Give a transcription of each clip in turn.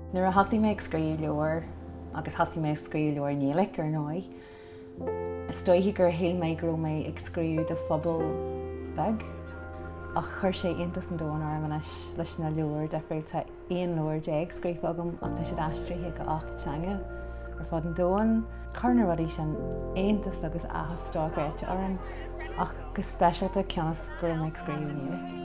Nuair a thosaigh mé ag scríobh leabhair, agus thosaigh mé ag scríobh leabhair i nGaeilge ar ndóigh, Is dóiche gur shíl mé go raibh mé ag scríobh do phobal beag ach chuir sé iontas an domhain orm anois leis na leabhair difriúil. Tá 11 leabhar scríofa agam ach tá siad aistrithe go 8 teanga ar fud an domhain. Chuir na rudaí sin iontas agus áthas dochreidte orm ach go speisialta cionn is go raibh mé ag scríobh i nGaeilge.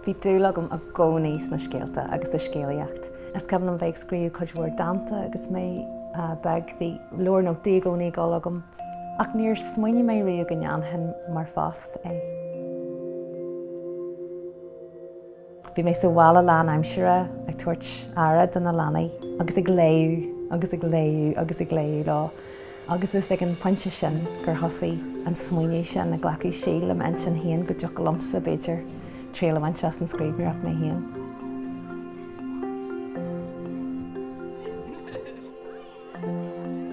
Bhí dúil agam i gcónaí sna scéalta agus sa scéalaíocht. Is cuimhin liom bheith ag scríobh cuid mhór dánta agus mé beag. Bhí leabhar nótaí i gcónaí ag dul agam ach níor smaoinigh mé riamh go ndéanfainn mar phost é. Bhí mé sa bhaile lán aimsire ag tabhairt aire do na leanaí agus ag léamh agus ag léamh agus ag léamh leo agus is ag an phointe sin gur thosaigh an smaoineamh ag glacadh seilbhe i m'intinn féin go dtiocfadh liomsa, b'fhéidir, triail a bhaint as an scríbhneoireacht mé féin.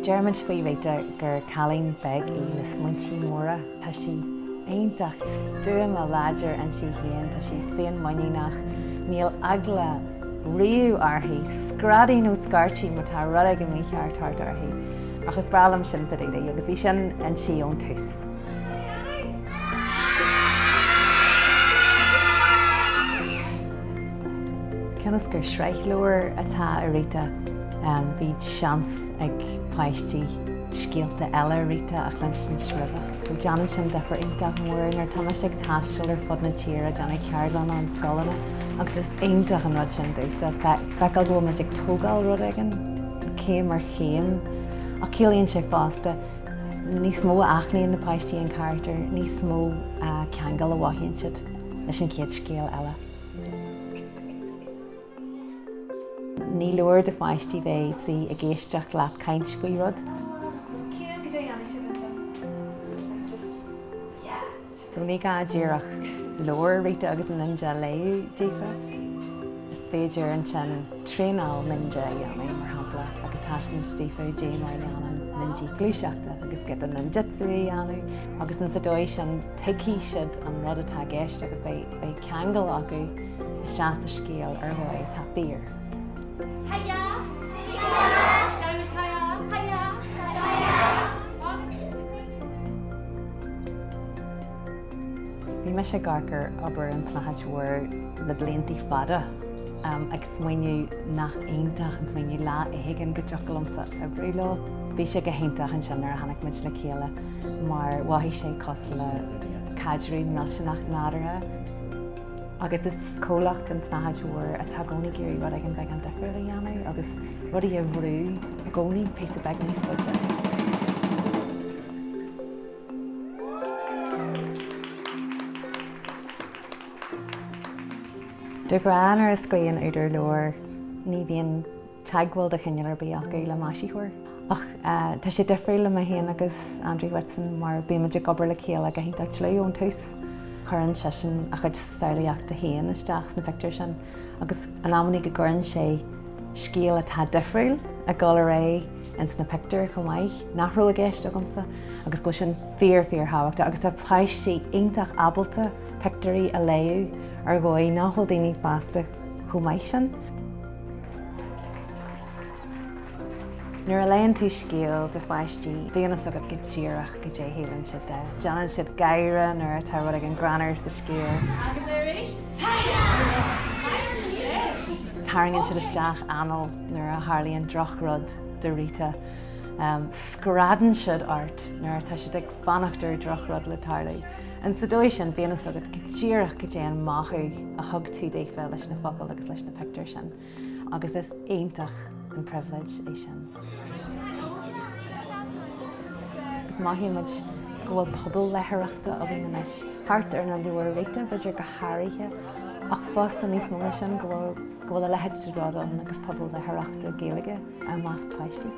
Deirimid faoi Rita gur cailín beag í le smaointí móra. Tá sí iontach stuama láidir inti féin, tá sí féinmhuiníneach, níl eagla riamh uirthi screadaí nó scairtí má tá rud éigin mícheart thart uirthi. Ach is breá liom sin fá dtaobh di agus bhí sin inti ón tús. Cionn is gur sraith leabhar atá i Rita, bhí seans ag páistí scéalta eile Rita a chluinsint agus roimhe. So déanann sin difear iontach mór. Nuair atá muid ag taisteal ar fud na tíre, ag déanamh ceardlanna i scoileanna agus is iontach an rud sin domhsa feiceáil go bhfuil muid ag tógáil rud éigin céim ar chéim. Ach ciallaíonn sé fosta, níos mó a aithníonn na páistí an carachtar, níos mó ceangail a mhothaíonn siad leis an chéad scéal eile. Ní leor do pháistí bheith ina suí ag éisteacht leat ag caint faoi rud. So ní gá díreach leabhar Rita agus Ninja a léamh daofa. Is féidir ansin traenáil Ninja a dhéanamh, mar shampla, agus taispéaint daofa cé mar a dhéanann Ninja gluaiseachta agus giota Ninjutsu a dhéanamh agus ins an dóigh sin tuigfidh siad an rud atá i gceist agus beidh ceangal acu isteach sa scéal ar dhóigh atá fíor. Bhí mise ag amharc ar obair An tSnáthaid Mhór le bliantaí fada, ag smaoineamh nach iontach an smaoineamh lá éigin go dtiocfadh liomsa oibriú leo. Bhí sé go hiontach ansin nuair a tháinig muid le chéile mar mhothaigh sé cosúil le caidreamh millteanach nádúrtha agus is comhlacht An tSnáthaid Mhór atá i gcónaí ag iarraidh rud éigin beagán difriúil a dhéanamh agus rudaí a bhrú I gcónaí, píosa beag níos faide. De ghnáth nuair a scríobhann údar leabhar ní bhíonn teagmháil de chineál ar bith acu le maisitheoir. Ach tá sé difriúil le mé féin agus Andrew Whitson mar bímid ag obair le chéile go hiontach dlúth ón tús. Cuireann seisean a chuid samhlaíochta féin isteach sna pictiúir sin. Agus in amannaí go gcuireann sé scéal atá difriúil ag gabháil ar aghaidh ins na pictiúir chomh maith, nach raibh i gceist agamsa, agus go bhfuil sin fíor fíor thábhachtach. Agus tá páistí iontach ábalta pictiúirí a léamh ar dhóigh nach bhfuil daoine fásta chomh maith sin. Nuair a léann tú scéal do pháistí, bíonn a fhios agat go díreach goidé a shíleann siad de. Déanann siad gáire nuair atá rud éigin greannmhar sa scéal. Tarraingíonn siad isteach anáil nuair a tharlaíonn droch-rud do Rita. Screadann siad ort nuair atá siad ag fanacht ar droch-rud le tarlú. Ins an dóigh sin, bíonn a fhios agat go díreach goidé an mothú a thug tú daofa leis na focail agus leis na pictiúir sin. agus is iontach an pribhléid é sin. Agus mothaíonn muid go bhfuil pobal léitheoireachta againn anois, thart ar na leabhair Rita b'fhéidir go háirithe, ach fosta níos mó ná sin go bhfuil a leithéid de rud ann agus pobal léitheoireachta Gaeilge i measc páistí.